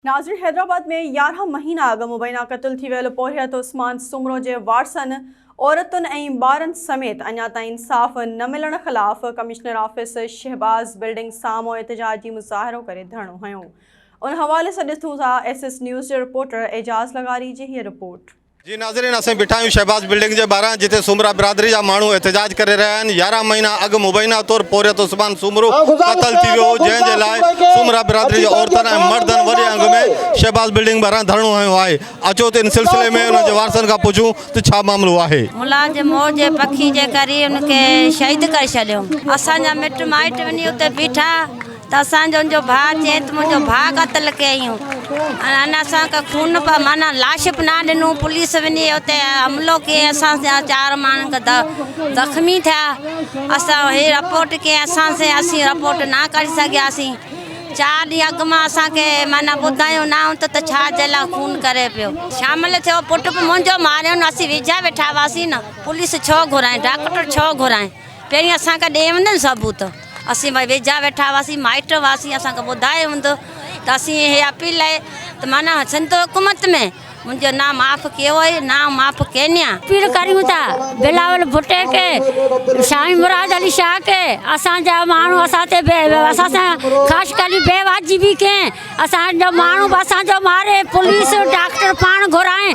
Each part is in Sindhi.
ناظرين حيدرآباد ۾ يارهن مهينا اڳ مبينا قتل ٿي ويل پورهيت عثمان سومرو جي وارثن، عورتن ۽ ٻارن سميت اڃا تائين انصاف نه ملڻ خلاف ڪمشنر آفيس شهباز بلڊنگ سامهون احتجاجي مظاهرو ڪري ڌرڻو هنيو. ان حوالي سان ڏسون ٿا ايس ايس نيوز جي رپورٽر اعجاز لغاري جي هيء رپورٽ. جي ناظرين اسين بيٺا آهيون شهباز بلڊنگ جي ٻاهران جتي سومرا برادري جا ماڻهو احتجاج ڪري رهيا آهن يارهن مهينا اڳ مبينا طور پورهيت عثمان سومرو قتل ٿي ويو هو جنهن جي لاء سومرا برادري جي عورتن ۽ مردن وڏي انگ ۾ شهباز بلڊنگ ٻاهران ڌرڻو هنيو آهي اچو ته ان سلسلي ۾ انهن جي وارثن کان پڇون ته ڇا معاملو آهي. ملازم مور جي پکي جي ڪري ان کي شهيد ڪري ڇڏيو اسان جا مٽ مائٽ وڃي اتي بيٺا ته اسان جو ان جو ڀاء چئي ته منهنجو ڀاء قتل ڪيائين ۽ ان اسان کي خون به معنيٰ لاش به نه ڏنو پوليس وڃي اتي حملو ڪيائين اسان جا چار ماڻهن کي زخمي ٿيا اسان هي رپورٽ ڪيائين اسان سين اسين رپورٽ نه ڪري سگهياسين چار ڏينهن اڳ مان اسان کي معنيٰ ٻڌايو نه هو ته ڇا جي لاء خون ڪري پيو شامل ٿيو پٽ به منهنجو ماريائون اسين ويجها ويٺا هئاسين نه پوليس ڇو گهرائين ڊاڪٽر ڇو گهرائين پهرين اسان کي ڏين نه ثبوت. اسين ڀاء ويجها ويٺا هئاسين مائٽ هئاسين اسان کي ٻڌايو هوندو ته اسين اهي اپيل آهي ته معنيٰ سنڌ حڪومت ۾ منهنجو نانء معاف ڪيو آهي نانء معاف ڪينيا. اپيل ڪريون ٿا بلاول ڀٽي کي سائين مراد علي شاهه کي اسان جا ماڻهو اسان تي اسان سان خاش ڪري بي واجبي ڪين اسان جو ماڻهو به اسان جو ماري پوليس ڊاڪٽر پاڻ گهرائين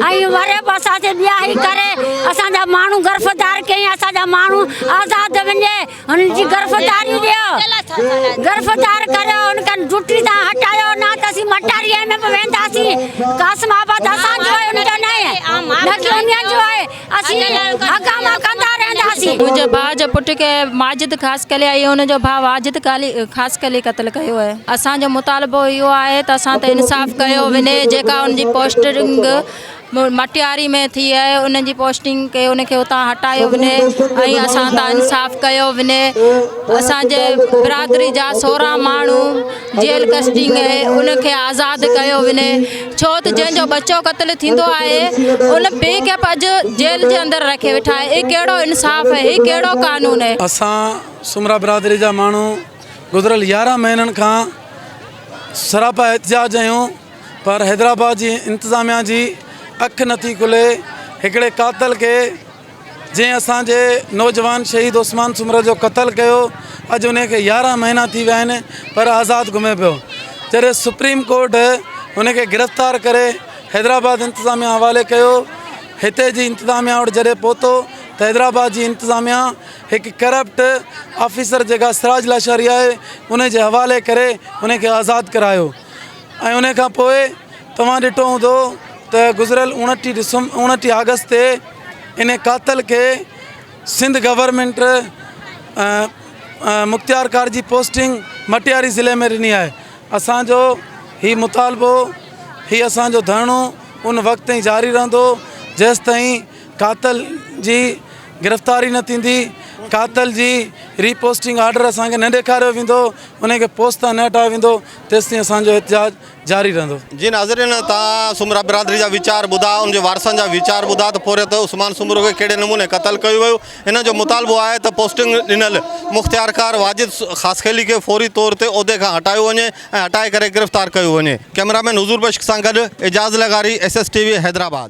۽ وري به اسان تي ٻياهي ڪري اسان جا ماڻهو گرفتار ڪيئين اسان جا ماڻهو آزاد وڃي هن جي گرفتاري ڏيو گرفتار ڪريو هن کان ڊوٽي تان هٽايو نه ته اسين مٽاري ايم ايم وينداسين قاسم آباد اسان جو آهي ان جو نه آهي نه ڪي انهن جو آهي اسين هنگاما ڪندا رهنداسين منهنجي ڀاء جو پٽ کي ماجد خاص خلي ۽ ان جو ڀاء واجد خاص خلي قتل ڪيو آهي اسان جو مطالبو اهو آهي ته اسان تي انصاف ڪيو وڃي جيڪا ان جي پوسٽنگ مٽياري ۾ ٿي آهي ان جي پوسٽنگ ڪي ان کي اتان هٽايو وڃي ۽ اسان تان انصاف ڪيو وڃي اسان جي برادري جا سورهن ماڻهو جيل ڪسٽنگ آهي ان کي آزاد ڪيو وڃي ڇو ته جنهن جو ٻچو قتل ٿيندو آهي ان پي کي اڄ جيل جي اندر رکي ويٺا آهي هي ڪهڙو انصاف آهي هي ڪهڙو قانون آهي. اسان سومرا برادري جا ماڻهو گذريل يارهن مهينن کان سراپا احتجاج ۽ پر حيدرآباد جي انتظاميا جي اک نٿي کلي هڪڙي قاتل کي جنهن اسان جي نوجوان شهيد عثمان سومرو جو قتل ڪيو اڄ ان کي يارهن مهينا ٿي ويا آهن پر آزاد گهمي پيو جڏهن سپريم ڪورٽ ان کي گرفتار ڪري حيدرآباد انتظاميا حوالي ڪيو هتي جي انتظاميا وٽ جڏهن پهتو ته حيدرآباد جي انتظاميا هڪ ڪرپٽ آفيسر جيڪا سراج لاشاري آهي ان جي حوالي ڪري ان کي آزاد ڪرايو ۽ انهيء کان پوء توهان ڏٺو هوندو ته گذريل اوڻٽيهه ڊسمبر اوڻٽيهه آگسٽ تي انهيء قاتل کي سنڌ گورنمينٽ مختيارڪار جي پوسٽنگ مٽياري ضلعي ۾ ڏني آهي اسان جو هي مطالبو هي اسان جو ڌرڻو ان وقت تائين جاري رهندو جيستائين قاتل جي گرفتاري نه ٿيندي قاتل جي ري پوسٽنگ آرڊر اسان کي نه ڏيکاريو ويندو انهيء کي پوسٽ تان نه هٽايو ويندو تيستائين اسان جو احتجاج جاري رهندو. جي ناظرين تان سومرا برادري جا ويچار ٻڌا ان جي وارثن جا ويچار ٻڌا ته پورهيت عثمان سومرو کي ڪهڙي نموني قتل ڪيو ويو انهن جو مطالبو آهي ته پوسٽنگ ڏنل مختيارڪار واجد خاصخيلي کي فوري طور تي عهدي کان هٽايو وڃي ۽ هٽائي ڪري گرفتار ڪيو وڃي ڪئميرا مين حضور بخش سان گڏ اعجاز لغاري S S T V Hyderabad.